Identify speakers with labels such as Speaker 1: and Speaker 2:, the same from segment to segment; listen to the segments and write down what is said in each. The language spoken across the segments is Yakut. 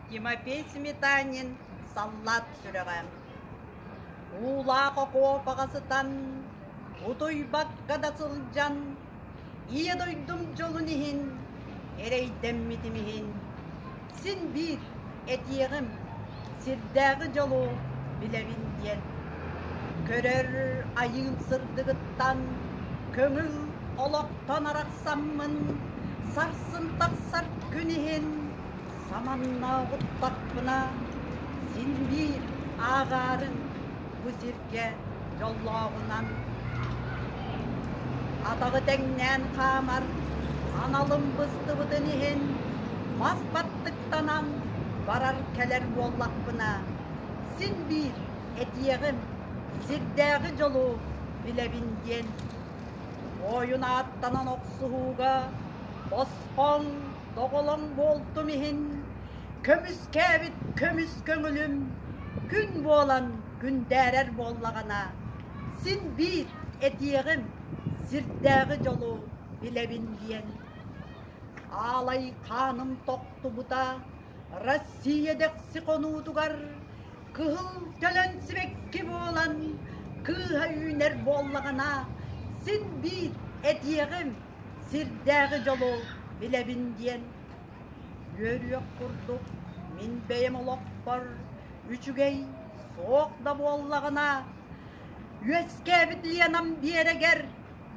Speaker 1: Тимофей Сметанин саллаат сүрэҕэ Уулаах окуопаҕа сытан, утуйбакка да сылдьан, Ийэ дойдум дьолун иһин эрэйдэммитим иһин, син биир этиэҕим, сирдээҕи дьолу билэбин диэн, көрөр айыыл сырдыгыттан көҥүл олохтон арахсаммын, сарсын тахсар күн иһин Саманна оҕуттахпына син биир ааҕаарын бу сиргэ дьоллооҕунан атаҕы тэҥнээн хаамар аналым быстыбытын иһин мас баттыктанан барар-кэлэр буоллахпына син биир этиэҕим сирдээҕи дьолу билэбин диэн ойун ааттанан охсуһууга бос Ол доҕолоҥ буолтум иһин, көмүскээбит көмүс көҥүлүм күн буолан күндээрэр буоллаҕына, син биир этиэҕим, сирдээҕи дьолу билэбин диэн. Аалай хааным тохтубута Россия дэхси хонуутугар кыһыл кэлэн сибэкки буолан кыыһа үүнэр буоллаҕына, син биир этиэҕим, Сирдээҕи дьолу билэбин диэн үөрүөх курдук мин бэйэм олохпор үчүгэй суох да буоллаҕына үөскээбит Ленам биэрэгэр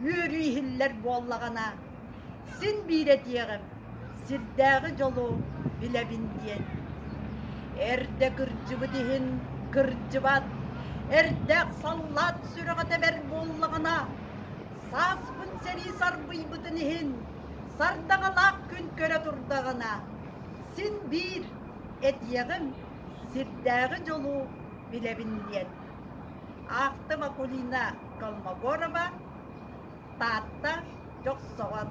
Speaker 1: үөрүү иһиллэр буоллаҕына син биир этиэҕим сирдээҕи дьолу билэбин диэн эрдэ кырдьыбыт иһин кырдьыбат эрдэ саллаат сүрэҕэ тэбэр буоллаҕына Сааспын сэрии сарбыйбытын иһин сардаҥалаах күн көрө турдаҕына, син биир этиэҕим, сирдээҕи дьолу билэбин диэн. Аахта Макулина Колмогорова, Таатта Дьохсоҕон